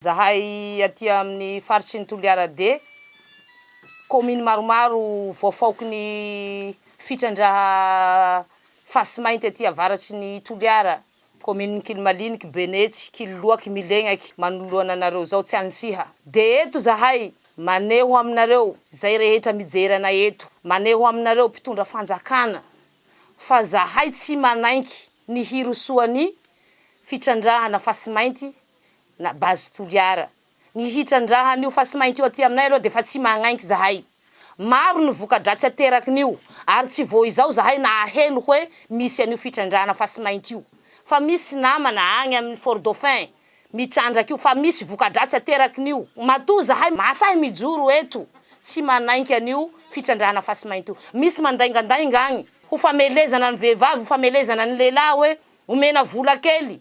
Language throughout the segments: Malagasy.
Zahay aty amin'ny faritry ny Toliara D, kaominy maromaro voafaoky ny fitrandraha fasy mainty aty avaratry ny Toliara, kaominin'i Kilimaliniky, Benetsy, Kiloloaky, Milegnaky, manoloana anareo izao tsy anisiha. Dia eto zahay maneho aminareo izay rehetra mijery anay eto, maneho aminareo mpitondra fanjakana fa zahay tsy manaiky ny hirosoan'ny fitrandrahana fasy mainty na base Toliara. Ny hitrandrahan'io fasimainty io aty aminay aloha dia efa tsy magnaiky zahay. Maro ny voka-dratsy aterakin'io ary tsy vao izao zahay nahaheno hoe misy an'io fitrandrahana fasimainty io. Fa misy namana agny amin'ny Fort Dauphin mitrandraka io fa misy voka-dratsy aterakin'io. Matoa zahay mahasahy mijoro eto tsy manaiky an'io fitrandrahana fasimainty io. Misy mandaingandainga agny ho famelezana ny vehivavy, ho famelezana ny lehilahy hoe omena vola kely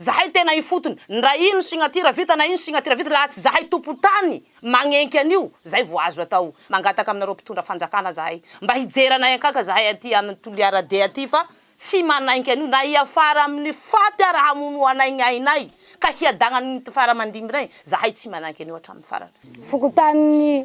Zahay tena ifotony ndra ino signature vita na ino signature vita laha tsy zahay tompotany magnenky an'io zay vo azo atao mangataka aminareo mpitondra fanjakana zahay mba hijery anay ankaka zahay aty aminy toliara de aty fa tsy manainky an'io na hiafara aminy faty ara hamono anay ny ainay ka hiadagnany ny tfara mandimbinay zahay tsy manainky an'io atraminy farany. Fokontany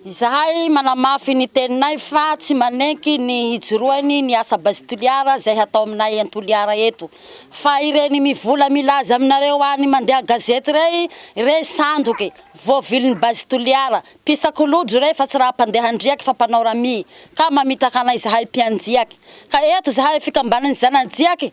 Izahay manamafy ny teninay fa tsy manenky ny hijoroany ny asa Base Toliara izay hatao aminay any Toliara eto. Fa ireny mivola milaza aminareo any mandeha gazety rey re sandoky, voavilin'ny Base Toliara, mpisakolodro re fa tsy raha mpandeha andriaky fa mpanao ramia ka mamitaka anay izahay mpianjiaky. Ka eto izahay fikambanan'ny zanajiaky